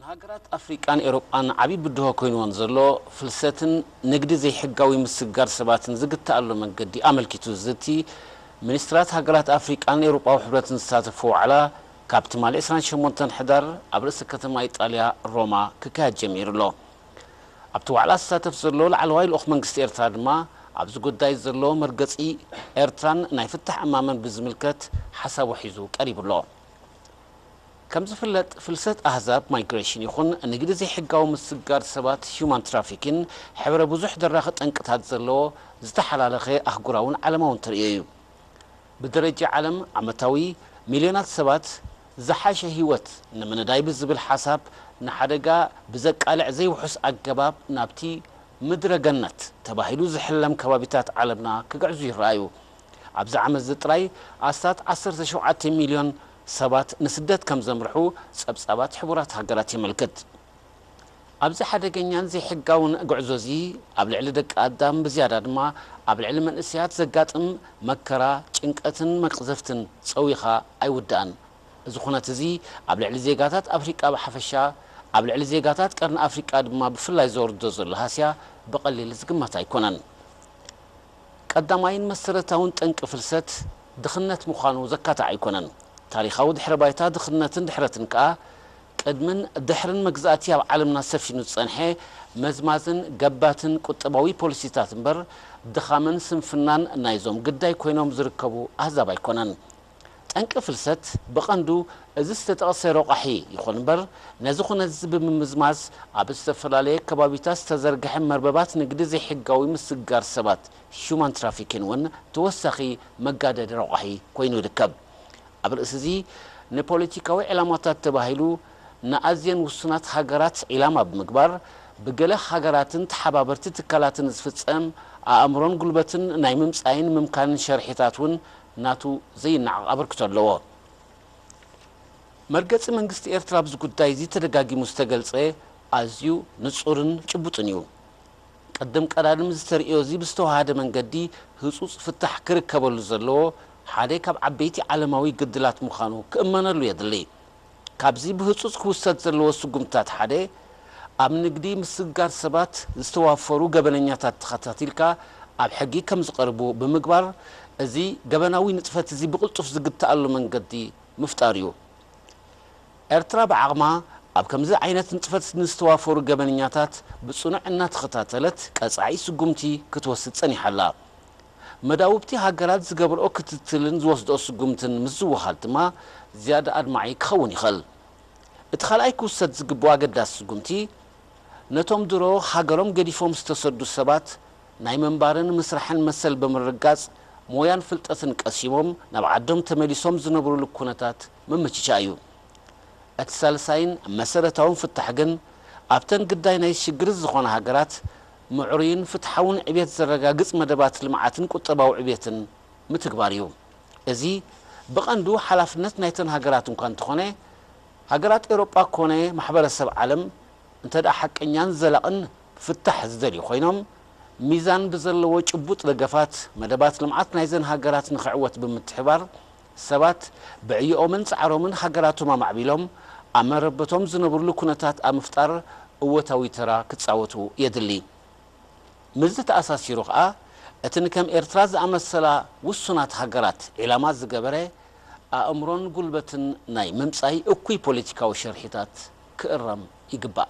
ንሃገራት ኣፍሪቃን ኤውሮጳን ዓቢ ብድሆ ኮይንወን ዘሎ ፍልሰትን ንግዲ ዘይሕጋዊ ምስግጋር ሰባትን ዝግትኣሉ መንገዲ ኣመልኪቱ ዝዝቲ ሚኒስትራት ሃገራት ኣፍሪቃን ኤውሮጳዊ ሕብረትን ዝሳተፍዎ ዋዕላ ካብ ትማሊ ዕስራን ሸሞንተን ሕዳር ኣብ ርእሰ ከተማ ኢጣልያ ሮማ ክካየድ ጀሚሩ ኣሎ። ኣብቲ ዋዕላ ዝሳተፍ ዘሎ ላዕለዋይ ልኡኽ መንግስቲ ኤርትራ ድማ ኣብዚ ጉዳይ ዘሎ መርገጺ ኤርትራን ናይ ፍታሕ እማመን ብዝምልከት ሓሳቡ ሒዙ ቀሪቡ ኣሎ። ከም ዝፍለጥ ፍልሰት ኣህዛብ፣ Migration፣ ይኹን ንግዲ ዘይሕጋዊ ምስጋር ሰባት፣ Human Trafficking፣ ሕብረ ብዙሕ ደራኺ ጠንቅታት ዘለዎ ዝተሓላለኸ ኣህጉራውን ዓለማውን ተርእዮ እዩ። ብደረጃ ዓለም ዓመታዊ ሚልዮናት ሰባት ዝሓሸ ህይወት ንምንዳይ ብዝብል ሓሳብ ንሓደጋ ብዘቃልዕ ዘይውሑስ ኣገባብ ናብቲ ምድረ ገነት ተባሂሉ ዝሕለም ከባቢታት ዓለምና ክግዕዙ ይረኣዩ። ኣብዚ ዓመት'ዚ ጥራይ ኣስታት ዓሰርተ ሸውዓተ ሚልዮን ሰባት ንስደት ከም ዘምርሑ ጸብጻባት ሕቡራት ሃገራት የመልክት። ኣብዚ ሓደገኛን ዘይሕጋውን ጉዕዞ'ዚ፣ ኣብ ልዕሊ ደቂ ኣዳም ብዝያዳ ድማ ኣብ ልዕሊ መንእሰያት ዘጋጥም መከራ፣ ጭንቀትን መቕዘፍትን ጸዊኻ ኣይውዳእን። እዚ ኩነት'ዚ ኣብ ልዕሊ ዜጋታት ኣፍሪቃ ብሓፈሻ፣ ኣብ ልዕሊ ዜጋታት ቀርኒ ኣፍሪቃ ድማ ብፍላይ ዘውርዶ ዘሎ ሃስያ ብቐሊል ዝግመት ኣይኮነን። ቀዳማይን መሰረታውን ጠንቂ ፍልሰት ድኽነት ምዃኑ ዘካትዕ ኣይኮነን። ታሪኻዊ ድሕረ ባይታ ድኽነትን ድሕረትን ከኣ ቅድምን ድሕርን መግዛእቲ ኣብ ዓለምና ሰፊኑ ዝጸንሐ መዝማዝን ገባትን ቁጠባዊ ፖሊሲታት እምበር ድኻምን ስንፍናን ናይዞም ግዳይ ኮይኖም ዝርከቡ ኣህዛብ ኣይኮነን። ጠንቂ ፍልሰት ብቐንዱ እዚ ዝተጠቕሰ ረቋሒ ይኹን እምበር፣ ነዚ ኩነት'ዚ ብምምዝማዝ ኣብ ዝተፈላለየ ከባቢታት ዝተዘርግሐ መርበባት ንግዲ ዘይሕጋዊ ምስግጋር ሰባት፣ Human Trafficking፣ እውን ተወሳኺ መጋደዲ ረቋሒ ኮይኑ ይርከብ። ኣብ ርእሲ'ዚ ንፖለቲካዊ ዕላማታት ተባሂሉ ንኣዝየን ውሱናት ሃገራት ዒላማ ብምግባር ብገለ ሃገራትን ተሓባበርቲ ትካላትን ዝፍጸም ኣእምሮን ጉልበትን ናይ ምምጻይን ምምካንን ሸርሒታት እውን ናቱ ዘይነዓቕ ኣበርክቶ ኣለዎ። መርገጺ መንግስቲ ኤርትራ ኣብዚ ጉዳይ'ዚ ተደጋጊሙ ዝተገልጸ ኣዝዩ ንጹርን ጭቡጥን እዩ። ቅድም ቀዳድም እዚ ተርእዮ'ዚ ብዝተወሃሃደ መንገዲ ህጹጽ ፍታሕ ክርከበሉ ዘለዎ ሓደ ካብ ዓበይቲ ዓለማዊ ግድላት ምዃኑ ክእመነሉ የድሊ። ካብዚ ብህጹጽ ክውሰድ ዘለዎ ስጉምትታት ሓደ፣ ኣብ ንግዲ ምስግጋር ሰባት ዝተዋፈሩ ገበነኛታት ተኸታቲልካ ኣብ ሕጊ ከም ዝቐርቡ ብምግባር እዚ ገበናዊ ንጥፈት'ዚ ብቕልጡፍ ዝግታኣሉ መንገዲ ምፍጣር'ዩ። ኤርትራ ብዓቕማ ኣብ ከምዚ ዓይነት ንጥፈት ንዝተዋፈሩ ገበነኛታት ብጽኑዕ እናተኸታተለት ቀጻዒ ስጉምቲ ክትወስድ ጸኒሓ'ላ። መዳውብቲ ሃገራት ዝገብርኦ ክትትልን ዝወስድኦ ስጉምትን ምስ ዝወሃድ ድማ ዝያዳ ኣድማዒ ክኸውን ይኸእል። እቲ ካልኣይ ክውሰድ ዝግብኦ ኣገዳሲ ስጉምቲ፣ ነቶም ድሮ ሃገሮም ገዲፎም ዝተሰዱ ሰባት ናይ ምንባርን ምስራሕን መሰል ብምርግጋጽ ሞያን ፍልጠትን ቀሲሞም ናብ ዓዶም ተመሊሶም ዝነብሩሉ ኩነታት ምምችቻእ እዩ። እቲ ሳልሳይን መሰረታውን ፍታሕ ግን ኣብተን ግዳይ ናይዚ ሽግር እዚ ዝኾና ሃገራት ምዕሩይን ፍትሓውን ዕብየት ዘረጋግፅ መደባት ልምዓትን ቁጠባዊ ዕብየትን ምትግባር እዩ። እዚ ብቐንዱ ሓላፍነት ናይተን ሃገራት እኳ እንተኾነ ሃገራት ኤውሮጳ ኮነ ማሕበረሰብ ዓለም እንተድኣ ሓቀኛን ዘላቕን ፍታሕ ዝደልዩ ኮይኖም ሚዛን ብዘለዎ ጭቡጥ ደገፋት መደባት ልምዓት ናይዘን ሃገራት ንኽዕወት ብምትሕብባር ሰባት ብዕዮኦምን ጻዕሮምን ሃገራቶም ኣማዕቢሎም ኣብ መረበቶም ዝነብርሉ ኩነታት ኣብ ምፍጣር እወታዊ ተራ ክጻወቱ የድሊ። ምስዚ ተኣሳሲሩ ከኣ እቲ ንከም ኤርትራ ዝኣመሰላ ውሱናት ሃገራት ዒላማ ዝገበረ ኣእምሮን ጉልበትን ናይ ምምጻይ እኩይ ፖለቲካዊ ሽርሒታት ክእረም ይግባእ።